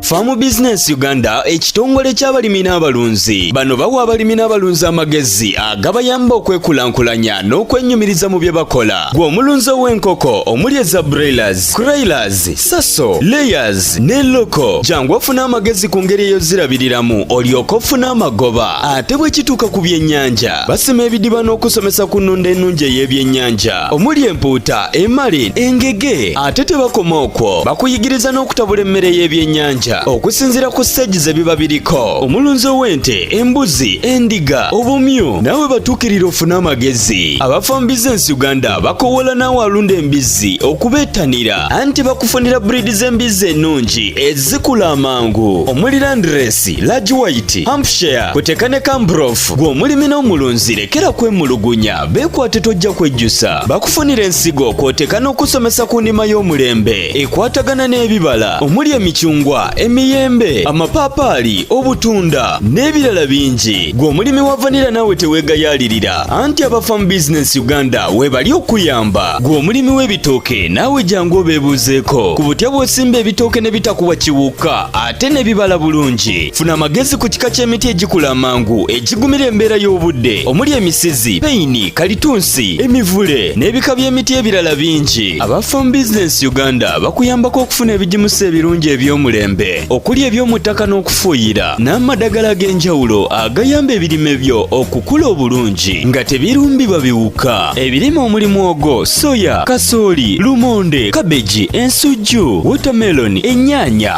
Farm Business Uganda ekitongole ky'abalimi n'abalunzi bano bawa abalimi n'abalunzi amagezi agabayamba okwekulaakulanya n'okwenyumiriza mu bye bakola gwe omulunzi ow'enkoko omuli eza broilers, croilers, saso, layers ne loko jangu ofuna amagezi ku ngeri eyozirabiriramu olyoka ofuna amagoba ate bwe kituuka ku byennyanja basima ebidiba n'okusomesa ku nnunda ennungi ey'ebyennyanja omuli empuuta emali engege ate tebakoma okwo bakuyigiriza n'okutabula emmere y'ebyennyanja okusinziira ku siteegi ze biba biriko omulunzi ow'ente embuzi endiga obumyu naawe batuukirira ofune amagezi abafa mu bizinensi uganda bakowoola naawe alunda embizzi okubeettanira anti bakufunira buriidi z'embizzi ennungi ezikula amangu omuli landiresi lagi wayiti hampshire kuteka ne kambrof gw'omulimi n'omulunzi lekera kwemulugunya Beekwate tojja kwejjusa bakufunira ensigo kw'oteeka n'okusomesa ku nnima y'omulembe ekwatagana n'ebibala omuli emicungwa emiyembe amapaapaali obutunda n'ebirala bingi gwe omulimi wa vanira naawe teweegayaalirira anti abafamu bizinensi uganda weebali okuyamba gwe omulimi w'ebitooke naawe jangu obeebuuzeeko ku butya bw'osimba ebitooke ne bitakuwa kiwuka ate ne bibala bulungi funa amagezi ku kika ky'emiti egikula amangu egigumira embeera y'obudde omuli emisizi peyini kalitunsi emivule n'ebika by'emiti ebirala bingi aba farm business uganda bakuyambako okufuna ebigimusa ebirungi eby'omulembe okuli eby'omu ttaka n'okufuuyira n'amadagala ag'enjawulo agayamba ebirime byo okukula obulungi nga tebirumbibwa biwuka ebirime omuli mwogo soya kasooli lumonde kabeji ensujju wotameloni ennyaanya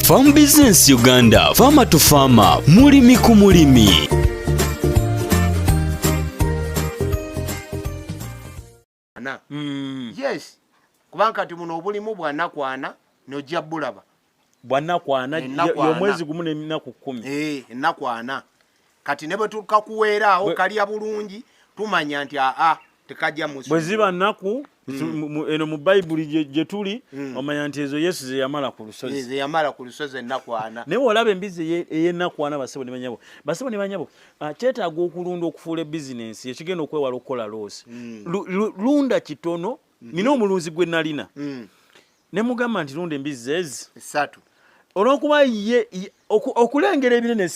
Farm Business Uganda, Farmer to Farmer, mulimi ku mulimi. Mm. Yes, kubanga kati muno obulimu bwanakwana nojja bulaba bwanakwana yomwezi gumu nenaku kumi eh, enakwana kati ne bwe tukakuweera awo kalya bulungi tumanya nti aa tekajja musu bwe ziba nnaku mm. eno mu bayibuli gye tuli mm. omanya nti ezo yesu ze yamala ku lusozi ze yamala ku lusozi ennakwana naye olaba embizzi ey'ennakwana basebo ne banyabo basebo ne banyabo ah, kyetaaga okulunda okufuula bizinensi ekigenda okwewala okukola loosi mm. lunda kitono nina omulunzi gwe nalina ne mugamba nti lunda embizzi ezi esatu olwokuba ye okulengera ebinene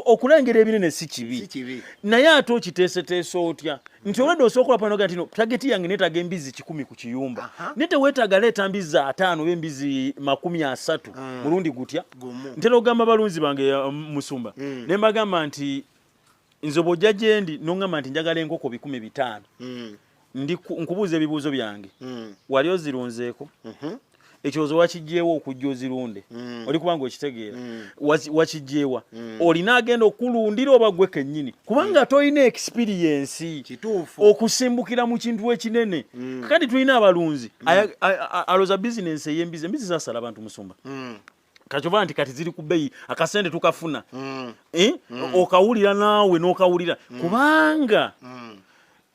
okulengera ebinene si kibi naye ate okiteeseteesa otya nti olwedde osooka olapanoga ntino tageti yange neetaga embizzi kikumi ku kiyumba naye teweetaaga leeta mbizzi ataano oba embizzi makumi asatu mm. mulundi gutya ntera okugamba balunzi bange um, musumba mm. ne mbagamba nti nze bwojja gyendi nongamba nti njagala enkoko bikumi bitaano mm. ndi nkubuuza ebibuuzo byange mm. wali ozirunzeeko mhm. ekyozo wakijjeewa okujja ozirunde mm. oli kubanga okitegeera wakijjeewa olina agenda okulundira oba gwe kennyini kubanga tolina ekisipiriyensi okusimbukira mu kintu ekinene kakati tulina abalunzi aloza bizinensi ey'embizi embizi zasala abantu musumba kakyova nti kati ziri ku bbeyi akasente tukafuna mm. Eh? Mm. okawulira naawe n'okawulira mm. kubanga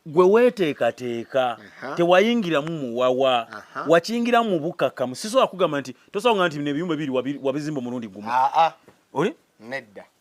gwe weteekateeka tewayingiramu muwawa wakiyingiramu mu bukkakkamu sisobola kugamba nti tosobola nga nti nebiyumba biri wabizimba omulundi gumu ah, ah. oli nedda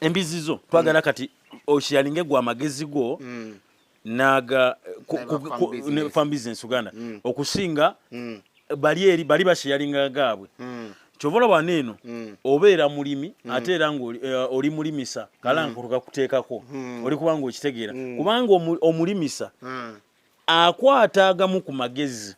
embizzi zo twagala mm. kati osharinge gwa magezi go mm. naga farm business uganda mm. okusinga mm. bali eri bali basharinga gabwe mm. kyovola bwana eno mm. obeera mulimi mm. ate era nga uh, oli mulimisa kala mm. nkutuka kuteekako mm. oli kubanga okitegeera mm. kubanga omulimisa mm. akwata agamu ku magezi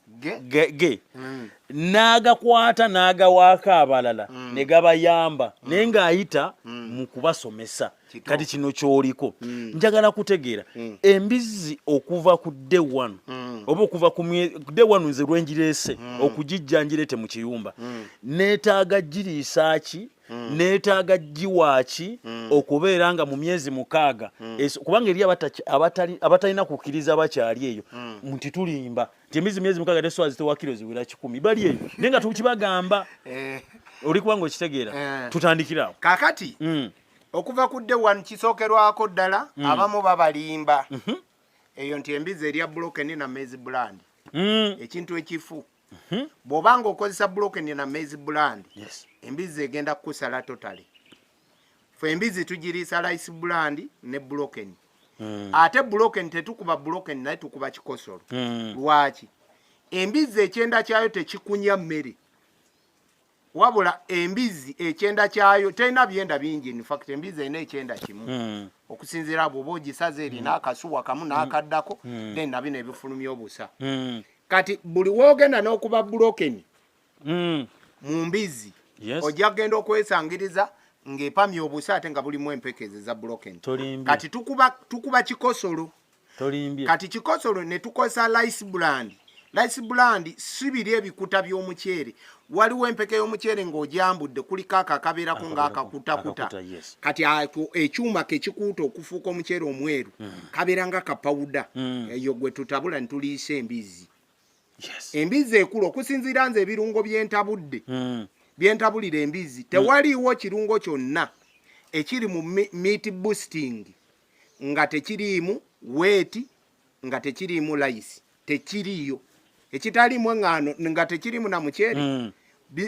ge mm. n'agakwata n'agawaako abalala mm. ne gabayamba mm. naye ng'ayita mu kubasomesa kati kino kyoliko njagala kutegeera embizzi okuva ku de one oba okuva ku de one nze lwenjireese okugijja njirete mu kiyumba neetaaga giriisa ki Hmm. neetaaga giwaaki hmm. okubeera nga mu myezi mukaaga hmm. kubanga eri abatalina kukkiriza bakyali eyo nti tulimba nti emizi myezi mukaaga teswazi tewakiro ziwera kikumi bali eyo naye nga tukibagamba eh. oli kubanga okitegeera eh. tutandikirawo kakati okuva ku de one kisookerwako ddala abamu babalimba mhm. eyo nti embizi erya bloken na mezi bland ekintu ekifu Mhm. bwoba nga okozesa broken na maize brand embizzi egenda kukusala totale fe embizzi tugiriisa lice brand ne broken hmm. ate broken tetukuba broken naye tukuba kikosolo hmm. lwaki embizzi ekyenda kyayo tekikunya mmere wabula embizzi ekyenda kyayo terina byenda bingi infact embizzi erina ekyenda kimu hmm. okusinziira bwoba ogisaza erina hmm. akasuwa kamu hmm. n'akaddako then nabino ebifulumya obusa kati buli wogenda n'okuba bulokeni mu mbizzi ojja kugenda okwesangiriza ng'epamya obusa ate nga bulimu empeke ezo eza bulokeni kati tukuba kikosolo tolimbye kati kikosolo ne tukozesa lice brand lice brand si biri ebikuta by'omuceere waliwo empeke y'omuceere ng'ojambudde kuliko ako akabeerako ng'akakutakuta kati ako ekyuma kekikuuta okufuuka omuceere omweru mm. kabeera nga kapawuda mm. eyo gwe tutabula ne tuliisa embizzi embizzi ekulu okusinziira nze ebirungo byentabudde mm. byentabulira embizzi tewaliiwo kirungo kyonna ekiri mu meat boosting nga tekiriimu weeti nga tekiriimu layisi tekiriiyo ekitaliimu eŋŋaano nga tekiriimu na muceere mm.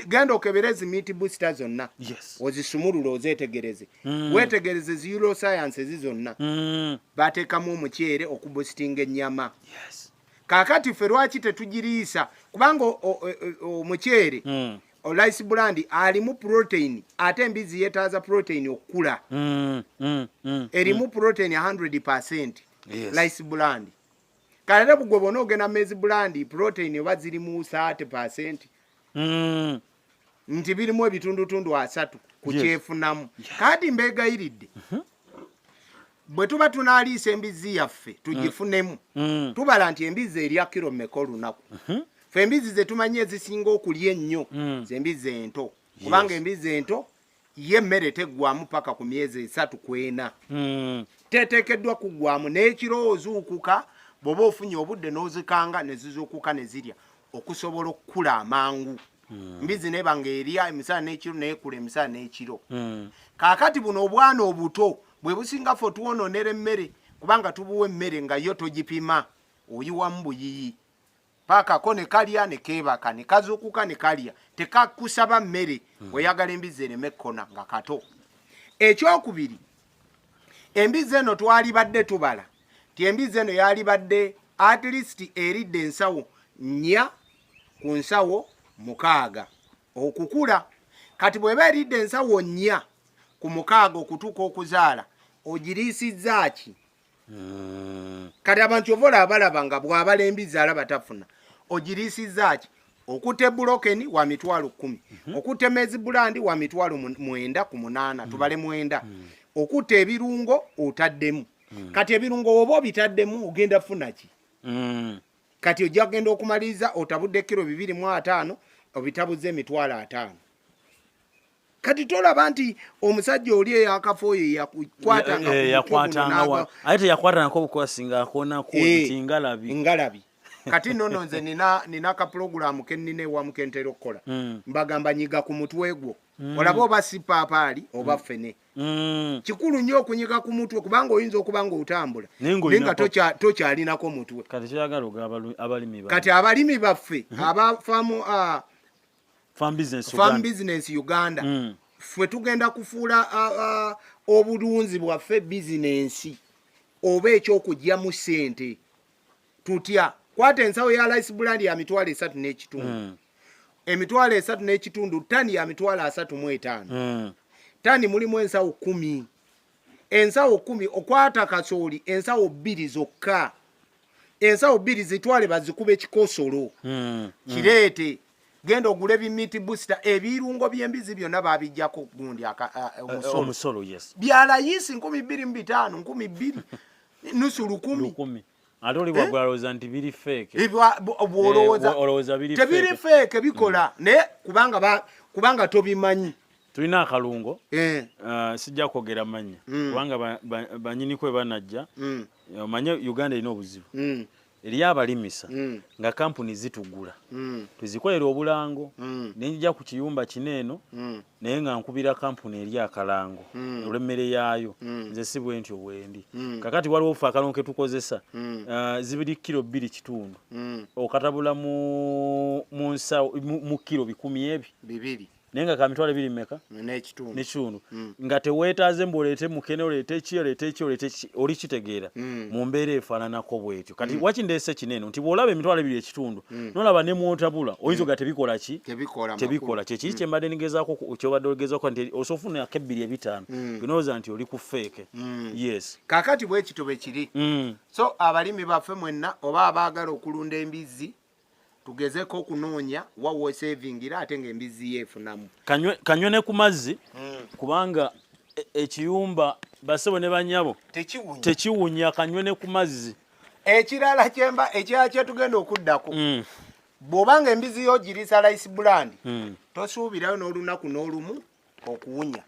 genda okebere ezi miiti busita zonna yes. ozisumulule ozetegereze mm. wetegereze zi euroscience ezi zonna mm. bateekamu omuceere okubusitinga ennyama yes. kakati ffe lwaki tetugiriisa kubanga omuceere mm. Rice brand alimu protein ate embizi yetaaza protein okukula. Mm, mm, mm, erimu mm. protein 100%. Yes. Rice brand. Kalera bugwe bona ogena mezi brand protein oba ziri mu 30%. Mm. Nti birimu ebitundu tundu asatu kukyefunamu. Yes. Yeah. Kadi mbega iridde. Mm -hmm. bwe tuba tunaaliisa embizzi yaffe tugifunemu mm. mm. tubala nti embizzi erya kiro mmeka olunaku mm-hmm. fe embizzi ze tumanyi ezisinga okulya ennyo mm. zembizzi ento kubanga embizzi ento ye emmere teggwamu paka ku myezi esatu kwena mm. teteekeddwa kuggwamu n'ekiro ozuukuka bw'oba ofunye obudde n'ozikanga ne zizuukuka ne zirya okusobola okukula amangu Hmm. mbizi neba nga erya emisana n'ekiro neekula emisana n'ekiro hmm. kaakati buno obwana obuto bwe businga ffe otwononera emmere kubanga tubuwa emmere nga yo togipima oyiwamu buyiyi paakako ne kalya ne keebaka ne kazuukuka ne kalya tekakusaba mmere hmm. oyagala embizzi ereme ekkona nga kato ekyokubiri embizzi eno twalibadde tubala ti embizzi eno yalibadde at least eridde ensawo nnya ku nsawo mukaaga okukula kati bweba eridde ensawo nnya ku mukaaga okutuuka okuzaala ogiriisizza ki hmm. kati abantu ova olaba balaba nga bwabala embizzi alaba tafuna ogiriisizza ki okute bulokeni wa mitwalo kumi mhm. okute mezi bulandi wa mitwalo mwenda ku munaana mm. tubale mwenda mm. okute ebirungo otaddemu mm. kati ebirungo woba obitaddemu ogenda funaki kati ojja kugenda okumaliriza otabudde kiro bibiri mu ataano obitabuza emitwalo ataano kati tolaba nti omusajja oli eyakafa oyo yakukwatangaaye eh, teyakwatanako obukwasi ngaakonakutingalabi eh, ngalabi kati nono nze nina kapulogulaamu kennina ewamu kentera okukola hmm. mbagamba nyiga ku mutwe gwo hmm. olaba oba sipaapaali oba hmm. fene Mm. kikulu nnyo okunyiga ku mutwe kubanga oyinza okuba nga otambula naye nga tokyalinako mutwe kati abalimi baffe mm-hmm. abafamu uh, farm business uganda mm. ffe tugenda kufuula uh, uh, obulunzi bwaffe bizinensi oba ekyokugyamu sente tutya kwata ensawo ya lice brand ya mitwalo esatu n'ekitundu mm. emitwalo esatu n'ekitundu tani ya mitwalo asatu mu etaano mm. tani mulimu ensawo kumi ensawo kumi okwata kasooli ensawo bbiri zokka ensawo bbiri zitwale bazikuba ekikosolo mm. mm. kireete mm. genda ogule bimiti booster ebirungo by'embizi byonna babijjako gundi eh, eh, omusolo byalayisi nkumi bbiri mu bitaano nkumi bbiri nusu lukumi ate oli bwagula eh? alowooza nti biri feeke eh, bwolowooza eh, tebiri feeke bikola mm. naye kubanga tobimanyi tulina akalungo ah, sijja kwogera mannya mm. kubanga banyini kwe banajja mm. omanye uganda erina obuzibu eriyo abalimisa nga kampuni zitugula tuzikolera obulango nenjija ku kiyumba kino eno naye nga nkubira kampuni eri akalango mm. olw'emmere yaayo mm. nze si bwe ntyo bwendi mm. kakati waliwo obufa akalongo ke tukozesa mm. uh, zibiri kiro bbiri kitundu mm. okatabula mu, mu, nsa, mu, mu kiro bikumi ebi bibiri naye nga kamitwalo ebiri mumeka nekitundu mm. nga teweetaaze mbu oleete mukene oleete ki oleete ki oleete ki oli kitegeera mm. mu mbeera efaananako bwetyo kati mm. wakindeese kineeno nti bw'olaba emitwalo ebiri ekitundu hmm. nolaba ne mwotabula oyinza hmm. oga tebikola ki tebikola kyekiri hmm. kyembadde nigezako kyobadde ogezako nti osobola ofunako ebbiri ebitaano binowoza nti oli ku feeke yes kakati bwekito bwekiri so abalimi baffe mwenna oba abaagala okulunda embizzi tugezeko okunoonya wawo esevingira ate nga embizzi yeefunamu kanywe ne ku mazzi kubanga e, ekiyumba basebo ne banyabo tekiwunya kanywe ne ku mazzi ekirala kyemba ekirala kyetugenda okuddako mm. bw'oba nga embizi yo ogiriisa lice brand mm. tosuubirayo n'olunaku n'olumu okuwunya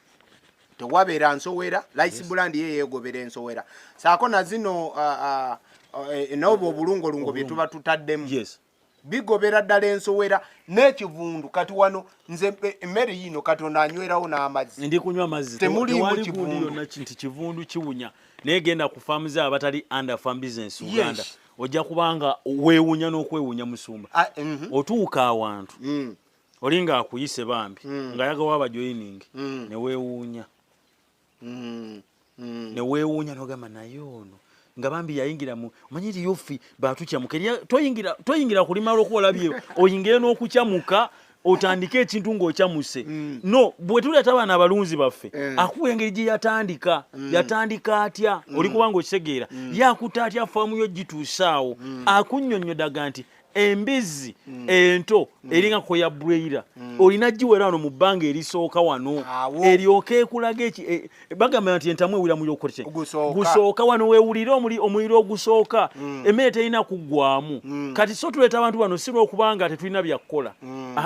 tewabeera nsowera lice brand ye yeegobera ensowera saako na zino uh, uh, uh, e, n'obwo obulungolungo bye tuba tutaddemu bigobera ddala ensowera n'ekivundu kati wano nze e, emmere yiino katonda anywerawo n'amazzi ndi kunywa amazzi temuliimu kivundu nti kivundu kiwunya naye genda ku faamu ze abatali under farm business uganda ojja kubanga weewunya n'okwewunya musumba ah, mhm. otuuka awantu mm. olinga akuyise bambi mm. ng'ayagawo abajoyiningi mm. ne weewuunya mm, mm. newewuunya nogamba naye ono nga bambi yayingira mu omanyi eriyo ffe batukyamuka eriyo toyingira toyingira kulima lwokuba olabye oyingire n'okukyamuka otandike ekintu ng'okyamuse mm. no bwe tuleeta abaana abalunzi baffe eh. akuwa engeri gye yatandika mm. yatandika atya mm. oli kubanga okitegeera yakuta atya faamu yo gituusaawo akunyonyodaga nti embizzi mm. ento mm. eringa koya bweira mm. olina giwera wano mu bbanga erisooka wano eryoka ekulaga eki e, e, bagamba nti entamu ewira muyokote gusooka wano wewulire omuliro ogusooka emmere terina kuggwamu kati so tuleeta abantu bano si lwokubanga tetulina byakukola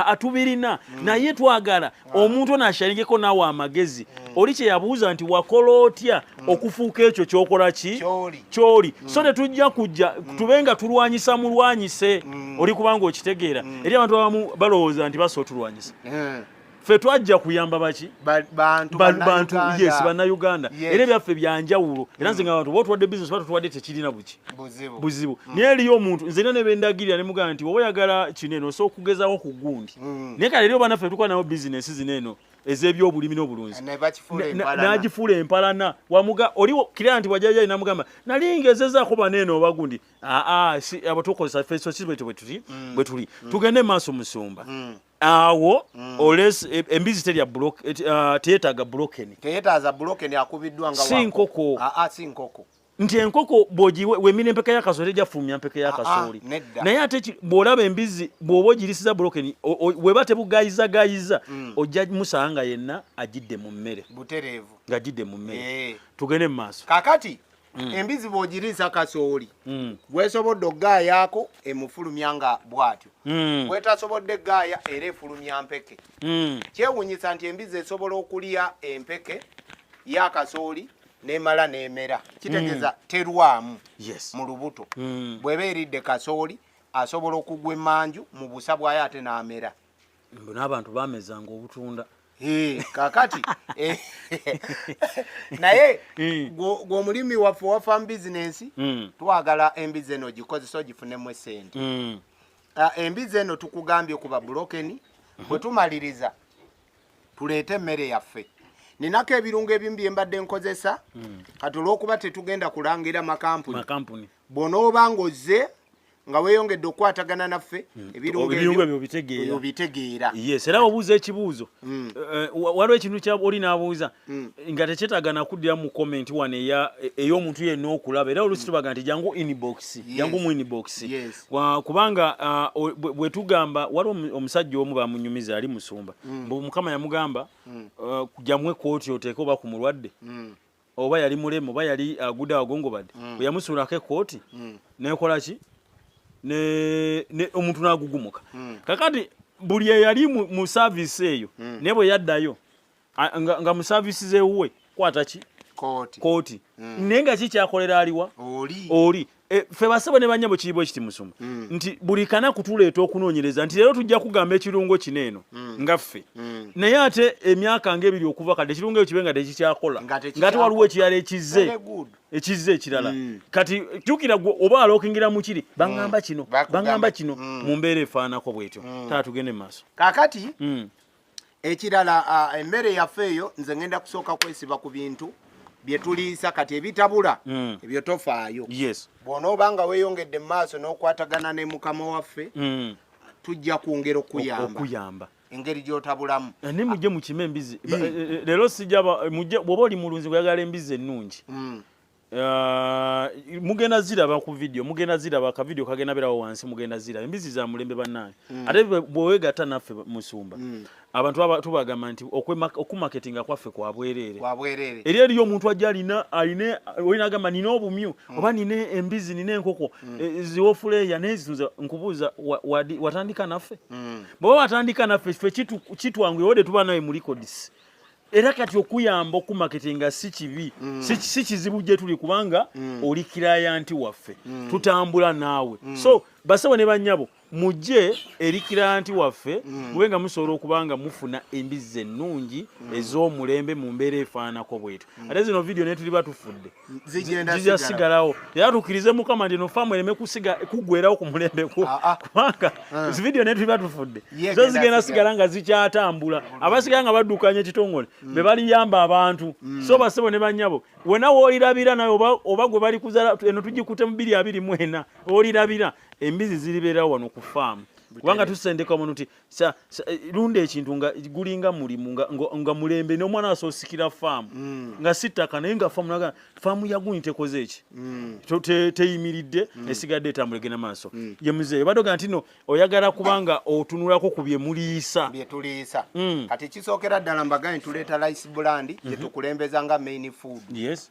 atubirina naye twagala omuntu ono asharingeko naawe amagezi mm. oli kyeyabuuza nti wakola otya mm. okufuuka ekyo kyokola ki kyoli mm. so tetujja kujja tube nga tulwanyisa mulwanyise oli kubanga okitegeera eri abantu abamu balowooza nti basa otulwanyisa eh. fe twajja kuyamba baki bantu yes bannayuganda era ebyaffe byanjawulo era nze nga abantu botwadde bisinesi batutwadde tekirina buki buzibu buzibu mm. naye eriyo omuntu nze era nebendagirira ne mugamba nti oba yagala kino eno osobola okugezawo ku gundi mm. naye kale eriyo banaffe tukuba nawo bizinesi zino eno ezebyobulimi n'obulunzi n'agifuula empalana wamuga oli kira nti wajajayi namugamba nali ngezezaako baneeno oba gundi aa abo tukozesa fesosi bwetyo bwetuli mm. bwetuli mm. tugende maaso musumba mm. awo mm. oles e, embizi terya uh, teyetaaga bulokeni teyetaaza bulokeni akubiddwa nga si nkoko aa si nkoko nti enkoko bwemira empeka yakasooli tejja kufulumya mpeka yakasooli ah, ah, naye ate bw'olaba embizzi bw'oba ogirisiza bulokeni weba tebugayizagayiza mm. ojja musanga nga yenna agidde mu mmere butereevu ng'agidde mu mmere eh. tugende mu maaso kakati mm. embizzi bw'ogiriisa kasooli mm. bwesobodde okugaayaako emufulumya nga bw'atyo bwetasobodde gaaya era efulumya mpeke kyewunyisa nti embizzi esobola okulya empeke yakasooli nemala nemera kitegeza mm. terwamu yes. mu lubuto mm. bweba eridde kasooli asobola okugwa emanju mu busa bwayo ate namera n'abantu bamezanga obutunda kakati eh, naye mm. gwomulimi waffe wa farm business mm. twagala embizi eno gikozesa ogifunemu esente mm. ah, embizi eno tukugambye kuba bulokeni mm-hmm. bwetumaliriza tuleete emmere yaffe ninako ebirungo ebimu bye mbadde nkozesa hmm. kati olw'okuba tetugenda kulangira makampuni bw'onooba ng'ozze nga weyongedde okukwatagana naffe hmm. ebirungobyobitegeera era obuuza ekibuuzo hmm. eh, eh, waliwo ekintu kyoli n'abuuza hmm. nga tekyetaaga nakuddira mu komenti wano ey'omuntu yenna okulaba era olusi tubaga nti jangu inbox jangu mu inbox kubanga bwe tugamba waliwo omusajja omu bamunyumiza ali musumba mm. mbu mukama yamugamba mm. jamwe kooti oteeke oba ku mulwadde mm. oba yali mulemu oba yali agude agongobadde bwe yamusuulako ekooti nekola ki omuntu n'agugumuka kakati buli eyali mu saaviisi eyo naye bwe yaddayo A- nga, nga mu service zewuwe kwata ki kooti kooti mm. naye nga kikyakolera aliwa oli oli e, ffe basebo ne banyabo kiribu ekiti musuma mm. nti buli kanaku tuleeta okunoonyereza nti leero tujja kugamba ekirungo kino eno mm. nga ffe mm. naye ate emyaka nga ebiri okuva kati ekirungo ekyo kibe nga tekikyakola Nga tekikyakola. nga ate waliwo ekirala ekizze Very good. ekizze ekirala mm. kati jukira gwe oba alokingira mu kiri baŋŋamba kino Bakugamba. baŋŋamba kino mu mbeera efaanako bwetyo taa tugende mu maaso kakati mm. ekirala emmere yaffe eyo nze ngenda kusooka kwesiba ku bintu byetuliisa kati ebitabula mm. ebyo tofaayo bwonooba nga weyongedde mu maaso n'okwatagana ne mukama waffe mm. tujja kwongera okuyamba engeri gyotabulamu eh, ne mujje mukime embizi eh, eh, leero sijaba mujje bwoba oli mulunzi kuyagala embizi ennungi mm. Uh, mugenda ziraba ku video mugenda ziraba ka video kagenda berawo wansi mugenda ziraba embizi za mulembe banaye mm. ate bwewegata naffe musumba mm. abantu tubagamba nti okumaketinga kwaffe kwabwerere eri eriyo omuntu ajja alina aline olina agamba nina obumyu mm. oba nina embizi nina enkoko mm. e, e, ziwofuleya naye zino nkubuuza watandika naffe mm. bweba watandika naffe fe kitwanguyewo de tuba nawe mulikodisi era kati okuyamba okumaketinga si kibi mm. si kizibu gye tuli kubanga mm. oli kirayanti waffe mm. tutambula naawe mm. so basebo ne banyabo mujje eri kirayanti waffe mm. mube nga musobola okuba nga mufuna embizzi ennungi mm. ez'omulembe mu mbeera efaananako bwetu mm. ate zino vidiyo netuli batufudde zijja sigalawo era tukirize mukama ndino faamu ereme kusiga kuggwerawo ku mulembe gwo ah, ah. kubanga ah. zividiyo naye tuliba tufudde zo zigenda sigala nga zikyatambula abasigala nga baddukanya ekitongole mm. be baliyamba abantu mm. so basebo ne banyabo wena wolirabira naye oba gwe bali kuzala eno tugikute mu biri abiri mwena olirabira embizi ziribeerawo wano ku faamu kubanga tusendeka omuntu nti sa, sa, eh, lunda ekintu nga gulinga mulimu nga, nga, nga mulembe nomwana asosikira faamu mm. nga sittaka naye nga faamu naga faamu yaguni tekoze eki mm. teyimiridde te mm. esigadde etambula egenda maaso mm. ye muzeeyi badoga nti no oyagala kubanga otunulako ku bye muliisa bye tuliisa mm. kati kisookera ddala mbagaye tuleeta lice bulandi mm -hmm. gye tukulembeza nga main food yes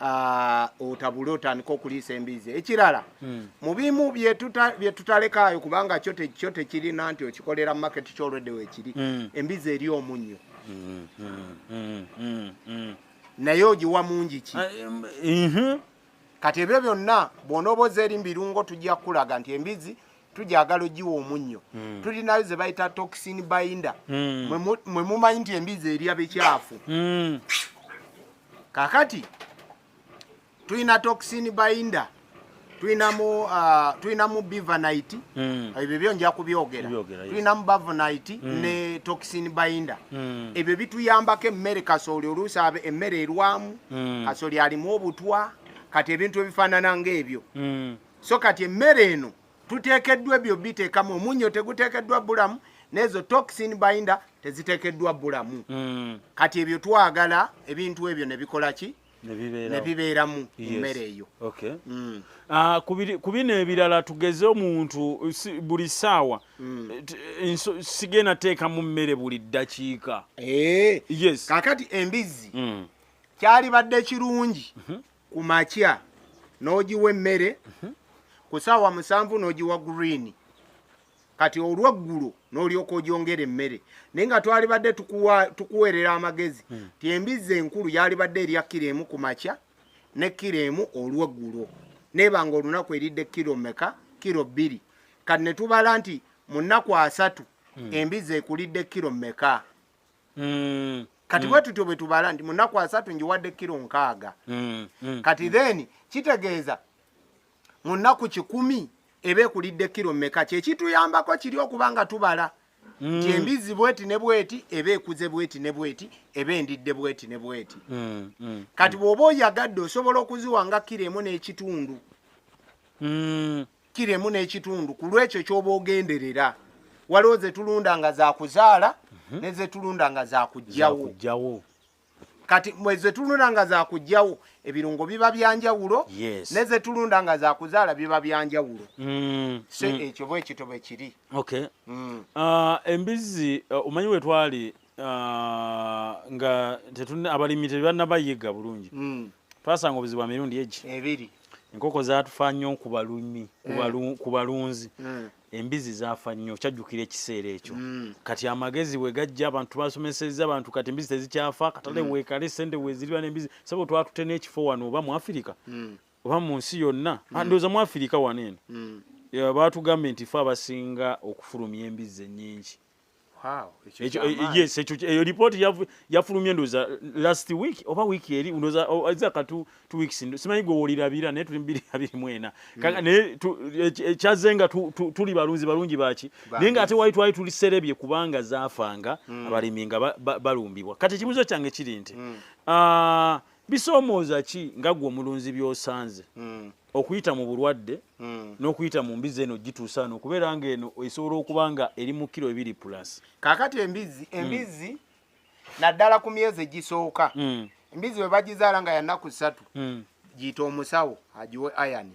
Ah, otabule otandika okuliisa embiizi ekirala hmm. mu bimu byetutalekaayo kubanga kyo tekirina nti okikolera market kyolwedde wekiri hmm. embiizi eri omunnyo hmm, naye ogiwa mungi ki ah, kati ebyo byonna bwonooba oza eri mubirungo tujja kukulaga nti embizi tugyagala ogiwa omunnyo hmm. tulinayo ze bayita toxin binder hmm. mwe mumanyi nti embizi erya bikyafu hmm. kakati tulina toxin binder tulinamu uh, tulinamu bivanite ebyo byo nja kubyogera tulinamu bavanite ne toxin binder ebyo bituyambako emmere kasooli oluusi abe emmere erwamu kasooli alimu obutwa kati ebintu ebifaanana ng'ebyo so kati emmere eno tuteekeddwa ebyo biteekamu omunnyo teguteekeddwa bulamu n'ezo toxin binder teziteekeddwa bulamu mm. kati ebyo twagala ebintu ebyo ne bikola ki ne bibeeramu emmere eyo mm. ah, ku bino ebirala tugeze omuntu buli ssaawa mm. eh, sigenda teekamu mmere buli ddakiika eh. kakati embizzi kyalibadde kirungi mhm. ku makya n'ogiwa emmere mhm. ku saawa musanvu n'ogiwa green kati olweggulo n'olyoka ogyongera emmere naye nga twalibadde tukuweerera amagezi hmm. ti embizzi enkulu yalibadde erya kiro emu ku makya ne kiro emu olweggulo neeba nga olunaku eridde kiro meka kiro bbiri kati ne tubala nti mu nnaku asatu hmm. embizzi ekulidde kiro meka mm. kati mm. bwetutyo bwetubala nti munaku asatu njiwadde kiro nkaaga mm. mm. kati mm. then kitegeeza munaku kikumi eba ekulidde kiro meka kyekituyambako kiri okuba nga tubala mm. ti embizzi bweti ne bweti eba ekuze bweti ne bweti eba endidde bweti ne bweti mm. mm. kati bwoba oyagadde osobola okuziwa nga kiro emu n'ekitundu mm. kiro emu n'ekitundu ku lwekyo ky'oba ogenderera waliwo ze tulunda nga za kuzaala mhm. ne ze tulunda nga za kujjawo kati mweze tulunda nga za kujjawo ebirungo biba byanjawulo ne ze tulunda nga za kuzaala biba byanjawulo mm, se mm. ekyo bwe kito bwe kiri mm. ah, embizzi ah, omanyi we twali ah, nga abalimi tebannabayiga bulungi twasanga obuzibu bwa mirundi egi ebiri enkoko zatufa nnyo kubalumi mm. kubalunzi mm. embizi zafa nnyo kyajjukira ekiseera ekyo mm. kati amagezi bwe gajja abantu basomeseza abantu kati embizi tezikyafa katale mm. wekale sente weziriba nembizi sabo twatute n'ekifo wano oba mu afirika mm. oba mu nsi yonna mm. Ah, ndowooza mu afirika wano eno mm. batugambye nti fe abasinga okufulumya embizi ennyingi yes ekyo eyo report yafulumye ndoza last week oba week eri ndoza oh, za katu two weeks ndo simanyi gwe wolira bira ne tuli mbiri abiri mwena hmm. kaka ne chazenga tuli balunzi balungi bachi ninga ate waitu waitu tuli serebye kubanga zafanga hmm. abaliminga balumbibwa kati kibuzo change kiri nti hmm. ah uh, Bisoomooza ki nga gwe omulunzi by'osanze hmm. okuyita mu bulwadde hmm. n'okuyita mu mbizzi eno gituusa ano okubeera ng'eno esobola okuba nga eri mu kiro ebiri pulasi kaakati embizzi hmm. embizzi naddala ku myezi egisooka embizzi bwe bagizaala nga yanaku ssatu giyita omusawo agiwe ayani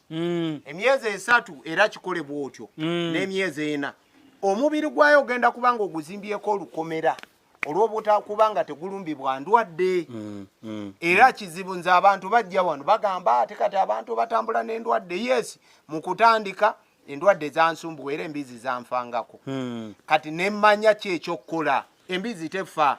mm. emyezi esatu era kikole bwotyo mm. n'emyezi ena omubiri gwayo ogenda kuba nga oguzimbyeko olukomera olw'obutakuba nga tegulumbibwa ndwadde mm, mm. era kizibu nze abantu bajja wano bagamba ate kati abantu batambula n'endwadde yes mu kutandika endwadde zansumbuwa era embizi zanfangako mm. kati nemmanya ki ekyokukola embizi tefa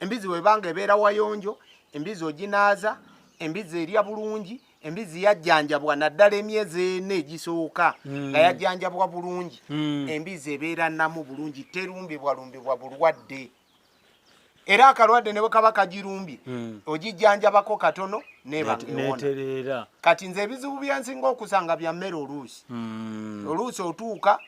embizi webanga ebeera wayonjo embizi oginaaza embizi erya bulungi embizi yajjanjabwa naddala emyezi ena egisooka hmm. nga yajjanjabwa bulungi hmm. embizi ebeera namu bulungi terumbibwalumbibwa bulwadde era akalwadde ne bwe kaba kagirumbye hmm. ogijjanjabako katono nebaneterera kati nze ebizibu byensinga okusanga bya mmere oluusi hmm. oluusi otuuka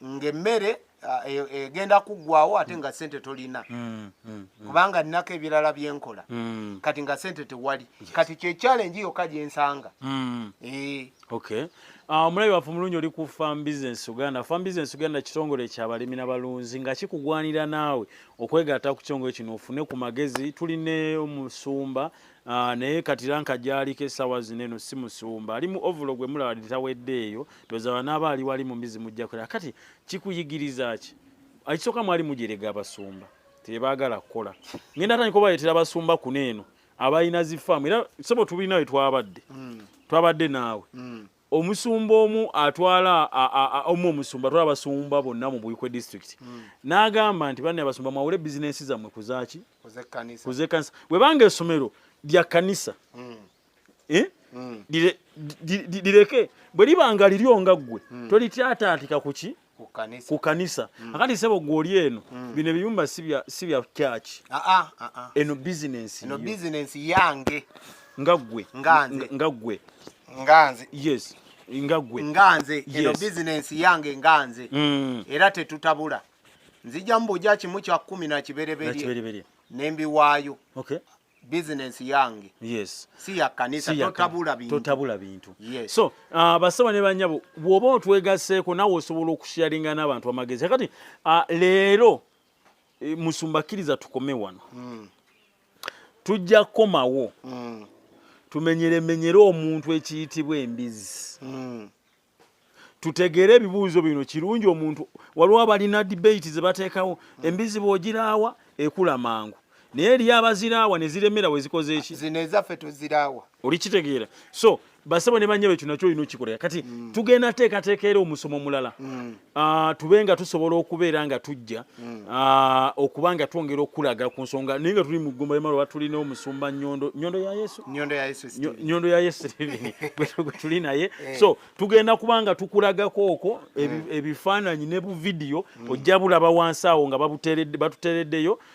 ng'emmere ah, e- egenda kuggwawo ate nga sente tolina Mm, mm, kubanga nnako ebirala bye nkola mm, kati nga sente tewali kati kye challenge yokka gye nsanga mm. Eh, Okay. Ah, omulabi waffe omulungi oli ku Farm Business Uganda. Farm Business Uganda kitongole kya balimi na balunzi nga kikugwanira naawe okwegatta ku kitongole kino ofune ku magezi. Tuli ne omusumba Ah, naye kati ranka gyaliko essaawa zino eno si musumba ali mu ovulo gwe mulaba tawedde eyo tozaba naaba ali wali mumizi mujjakola kati kikuyigiriza ki ekisooka mwali mujerega abasumba tebaagala kukola ngenda atandika obaletera abasumba kuno eno abalina zifaamu era sobo tubiri nawe twabadde hmm. twabadde naawe hmm. omusumba omu atwala omu omusumba atwala abasumba bonna mu buikwe district hmm. n'agamba nti banne abasumba mwawule bizinensi zammwe kuzaaki kuzekkanisa webanga esomero lya kanisa hmm. eh? hmm. lireke bwe libanga liryo nga ggwe tolityataatika kuki ku kanisa mm. akati sebo gwoli eno mm. bino ebiyumba si bya kyaki ah, ah, ah, eno bizinensi eno bizinensi yange nga ggwe nga ggwe nganze yes nga ggwe nganze eno bizinensi yange nganze mm. era tetutabula nzija mbuja kimu kya kumi na kibereberye nembiwaayo business yange yes si ya kanisa si totabula bintu totabula bintu yes. so uh, basaba ne banyabo bwoba otwegaseko nawe osobola okusharinga n'abantu amagezi kati uh, leero e, musumba kiriza tukome wano mm. tujja komawo mm. tumenyere menyere omuntu ekiyitibwa embizi mm. tutegeere ebibuuzo bino kirungi omuntu waliwo abalina debate zebateekawo embizi bwogiraawa ekula mangu naye eriyo abaziraawa neziremera wezikoze eki zino ezaffe tuziraawa olikitegeera so basebo ne banyabo ekyo nakyo olina okikola kati mm. tugenda teekateeka era omusomo omulala mm. Uh, tube nga tusobola okubeera nga tujja mm. uh, okuba nga twongera okulaga ku nsonga naye nga tuli mu ggumba lyemalo batulina omusumba nyondo nyondo ya yesu nyondo ya yesu nyondo ya yesu gwe tuli naye eh. so tugenda kuba nga tukulagako okwo mm. ebifaananyi ne buvidiyo mm. ojja bulaba wansi awo nga batutereddeyo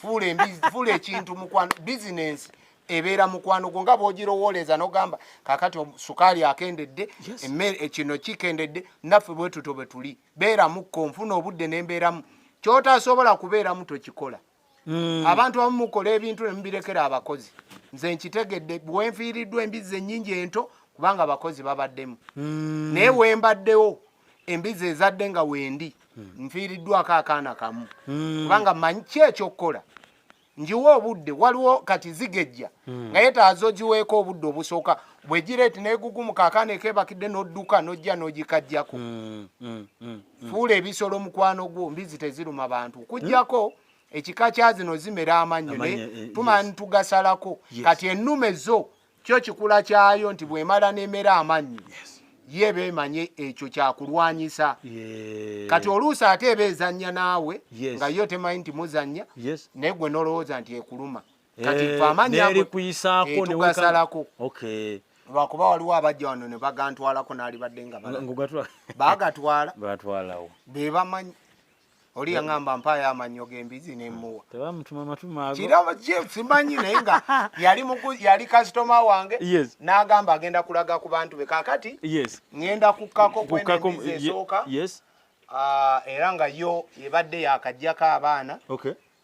fuula embizi fuula ekintu mukwano bizinensi ebeera mukwano gwo nga bwogirowooleza nogamba kakati sukaali akendedde emmere eh, kino kikendedde naffe bwetuto bwe tuli beeramukko nfuna obudde nembeeramu kyotasobola kubeeramu tokikola hmm. abantu abamu mukola ebintu nemubirekera abakozi nze nkitegedde bwenfiiriddwa embizzi ennyingi ento kubanga abakozi babaddemu hmm. naye wembaddewo embizi ezadde nga wendi hmm. nfiiriddwako akaana kamu hmm. kubanga manyi ki ekyokukola njiwa obudde waliwo kati zigejja hmm. naye taazo giweeko obudde obusooka bwegireeti negugumuka akaana ekebakidde nodduka nojja nogikajjako fuula ebisolo mukwano gwo mbizi teziruma bantu kujjako ekika kyazino zimera amannyo eh, tumanyi tugasalako kati ennume zo kyo kikula kyayo nti bwemala nemera amanyi ye bemanye ekyo kyakulwanyisa kati oluusi ate eba ezanya naawe nga yo temanyi nti muzanya naye gwe nolowooza nti ekuluma kati eh, famanyaetugasalako lwakuba waliwo abajja wano ne bagantwalako naalibadde nga bagatwala bebamanyi oli yaŋamba mpaayo amannyo g'embizi nemuwa kirabo kye simanyi naye nga yali yali kasitoma wange n'agamba agenda kulaga ku bantu be kakati ŋenda kukkako kwenembizi esooka ah, era nga yo ebadde yakajjako abaana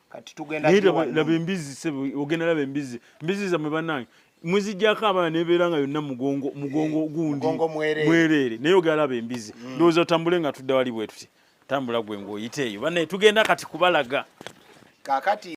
kati tugenda laba embizi sebe ogenda laba embizi mbizi zamwe banange muzijjako abaana nebeera nga yonna mugongo mugongo mm. gundi mwereere naye ogera laba embizi mm. ndowooza otambule nga tudda wali bwetuti tambula gwe ngaoyite eyo banaye tugenda kati kubalaga kakati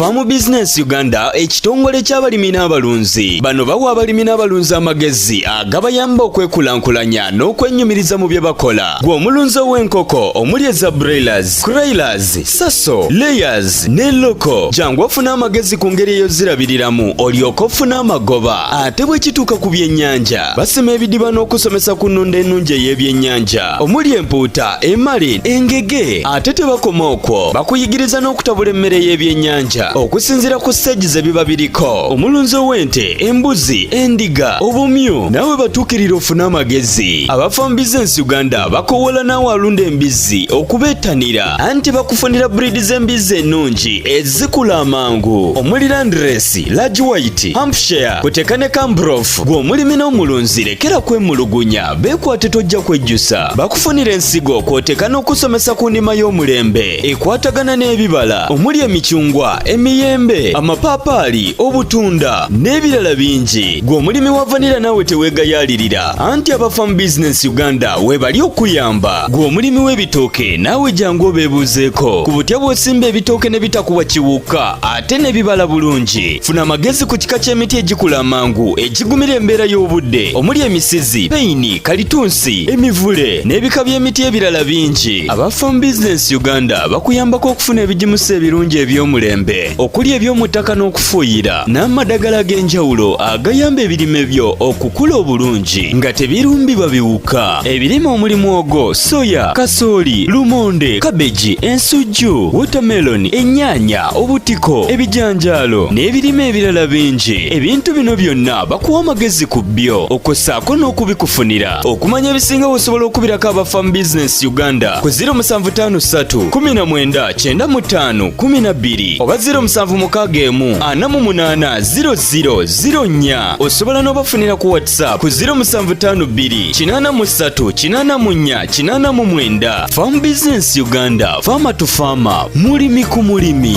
Farm Business Uganda ekitongole ky'abalimi n'abalunzi bano bawa abalimi n'abalunzi amagezi agabayamba okwekulaakulanya n'okwenyumiriza mu bye bakola. Gwe omulunzi ow'enkoko omuli eza broilers, croilers, saso layers ne loko jangu ofuna amagezi ku ngeri eyozirabiriramu olyoka ofuna amagoba ate bwe kituuka ku byennyanja basima ebidiba n'okusomesa ku nnunda ennungi ey'ebyennyanja omuli empuuta emali engege ate tebakoma okwo bakuyigiriza n'okutabula emmere y'ebyennyanja okusinziira ku siteegi ze biba biriko omulunzi ow'ente embuzi endiga obumyu nawe batuukirira ofune amagezi abafambiza ensi uganda bakowola naawe alunda embizzi okubeetanira anti bakufunira breed z'embizzi ennungi ezikula amangu omuli landresi large white hampshire kuteka ne cambrof gw'omulimi n'omulunzi lekera kwemulugunya beekwate tojja kwejjusa bakufunira ensigo kwoteka n'okusomesa ku ndima y'omulembe ekwatagana n'ebibala omuli emicungwa emiyembe amapaapaali obutunda n'ebirala bingi gw'omulimi wa vanira naawe teweegayaalirira anti abafamu bizinensi uganda webali okuyamba gwe omulimi w'ebitooke naawe jangu obeebuuzeeko ku butya bw'osimba ebitooke ne bitakuwa kiwuka ate ne bibala bulungi funa amagezi ku kika ky'emiti egikula amangu egigumira embeera y'obudde omuli emisizi peyini kalitunsi emivule n'ebika by'emiti ebirala bingi aba farm business uganda bakuyambako okufuna ebigimusa ebirungi eby'omulembe okuli eby'omu ttaka n'okufuuyira n'amadagala ag'enjawulo agayamba ebirime byo okukula obulungi nga tebirumbibwa biwuka ebirime omulimu ogwo soya kasooli lumonde kabeji ensujju wotameloni ennyaanya obutiko ebijanjaalo n'ebirime ebirala bingi ebintu bino byonna bakuwa amagezi ku byo okwo ssaako n'okubikufunira okumanya ebisinga wosobola okubirako aba famu bizinesi uganda ku 0753 19 95 kumi na bbiri oba ziro musanvu mukaaga emu ana mu munaana ziro ziro ziro nnya osobola n'obafunira ku whatsapp ku ziro musanvu taano bbiri kinaana mu ssatu kinaana mu nnya kinaana mu mwenda faamu bizinensi uganda faama tu faama mulimi ku mulimi